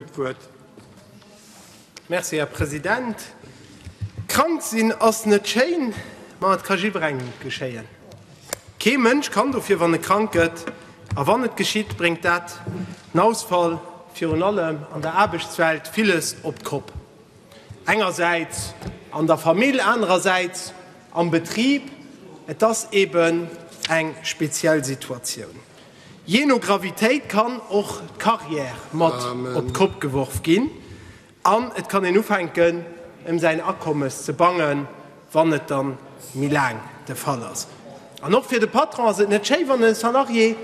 D'Wuert. Merci, Här President. Krank sinn ass net schéin, ma et ka jidderengem geschéien. Kee Mënsch kann dofir, wann e krank gëtt. A wann et geschitt, bréngt dat en Ausfall, virun allem an der Aarbechtswelt, villes op d'Kopp. Engersäits an der Famill, anerersäits am Betrib. Et ass eeben eng speziell Situatioun. Jee no Gravitéit kann och d'Carrière mat op d'Kopp geworf ginn an et kann een ufänken ëm säin Akommes ze bangen, wann et da méi laang de Fall ass. An och fir de Patron ass et net schéi, wann e Salarié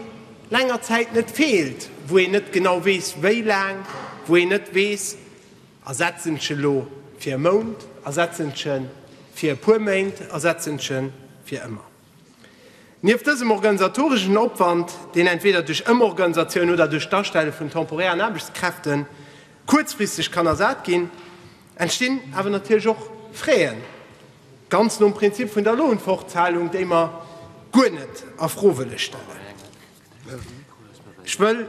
länger Zäit net feelt, wou een net genau weess, wéi laang, wou een net weess, ersetz en ech elo fir e Mount, ersetz en ech e fir e puer Méint, ersetz en ech e fir ëmmer. Nieft dësem organisatoreschen Opwand, deen entweder duerch Ëmorganisatioun oder duerch d'Astelle vun temporären Aarbechtskräfte kuerzfristeg kann ersat ginn, entstinn awer natierlech och Fräen, ganz nom Prinzip vun der Lohnfortzahlung, déi mer guer net a Fro wëlle stellen. Ech wëll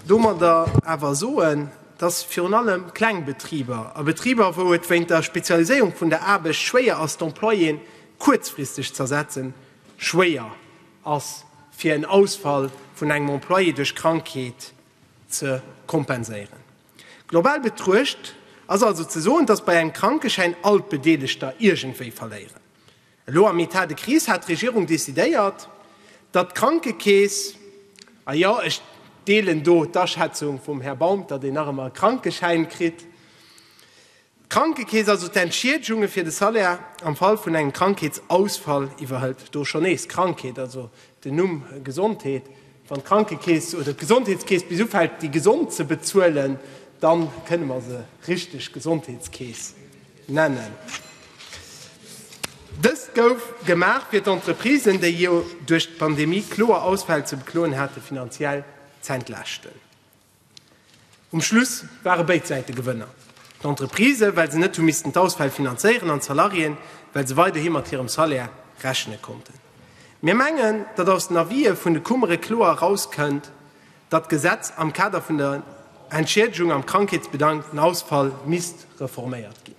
domadder awer soen, dass virun allem kleng Betriber a Betriber, wou et wéint der Spezialiséierung vun der Aarbecht schwéier ass, d'Employéen kuerzfristeg z'ersetzen, schwéier ass fir en Ausfall vun engem Employé duerch Krankheet ze kompenséieren. Global betruecht ass also ze soen, datt bei engem Krankeschäin all d'Bedeelegter iergendwéi verléieren. Elo am Etat de crise hat d'Regierung decidéiert, datt d'Krankekeess, a jo, ech deelen do d'Aschätzung vum Här Baum, datt een nach ëmmer e Krankeschäin kritt, D'Krankekeess also d'Entschiedegunge fir de Salaire am Fall vun engem Krankheetsausfall iwwerhëlt, do schonn nees Krankheet, also den Numm Gesondheet. Wann d'Krankekeess oder d'Gesondheetskeess bis ufält, déi Gesond ze bezuelen, da kënne mer se richteg Gesondheetskeess nennen. Dëst gouf gemaach, fir d'Entreprisen, déi jo duerch d'Pandemie kloer Ausfäll ze bekloen hate, finanziell z'entlaaschten. Um Schluss ware béid Säite Gewënner, d'Entreprisë, well se net hu missten d'Ausfäll finanzéieren, an d'Salariéen, well se weiderhi mat hirem Salaire rechne konnten. Mir mengen, datt aus den Avisë vun de Kummere kloer erauskënnt, datt d'Gesetz am Kader vun der Entschiedegung am Krankheetsbedangten Ausfall misst reforméiert ginn.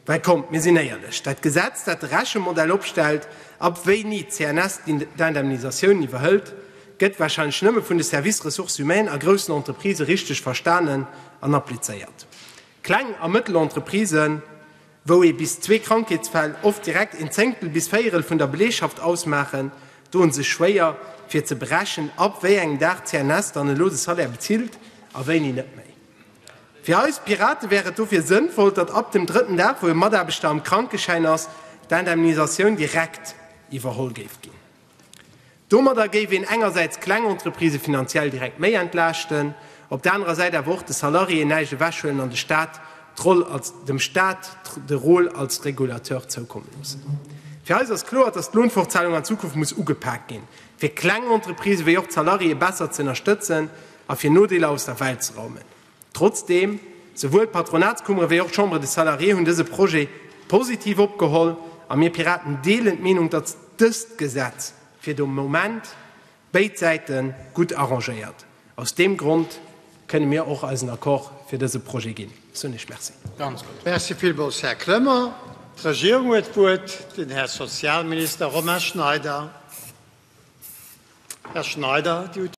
Mä kommt, mir sinn éierlech, Dat Gesetz, dat de Rechemodell opstellt, ab wéini d'CNS d'Indemnisatioun iwwerhëlt, gëtt warscheinlech nëmme vun de Services ressources humaines a groussen Entreprisë richteg verstanen an applizéiert. Kleng a Mëttelentreprisen, wou ee bis zwee Krankheetsfäll oft direkt een Zéngtel bis Véierel vun der Beleegschaft ausmaachen, doen sech schwéier, fir ze berechen, ab wéi engem Dag d'CNS dann elo de Salaire bezilt a wéini net méi. Fir eis Pirate wär et dofir sënnvoll, datt ab dem drëtten Dag, wou e Mataarbechter am Krankeschäin ass, d'Indemnisatioun direkt iwwerholl géif ginn. Domadder géif een engersäits d'kleng Entreprisë finanziell direkt méi entlaaschten, op der anerer Säit awer och de Salariéeën näischt ewechhuelen an de Staat d'Roll als, dem Staat de Rôle als Régulateur zoukomme loossen. Fir eis ass kloer, datt d'Lounfortzahlung an Zukunft muss ugepaakt ginn, fir kleng Entreprisë wéi och d'Salariéeë besser z'ënnerstëtzen. a fir Nodeeler aus der Welt ze raumen. Trotzdeem, souwuel d'Patronatskummere wéi och d'Chambre des Salariés hunn dëse Projet positiv opgeholl a mir Piraten deelen d'Meenung, datt dëst Gesetz fir de Moment béid Säite gutt arrangéiert. Aus deem Grond kënne mir och eisen Accord fir dëse Projet ginn. Soen ech Merci. Merci villmools, Här Kremer. D'Regierung huet d'Wuert, den Här Sozialminister Romain Schneider. Här Schneider.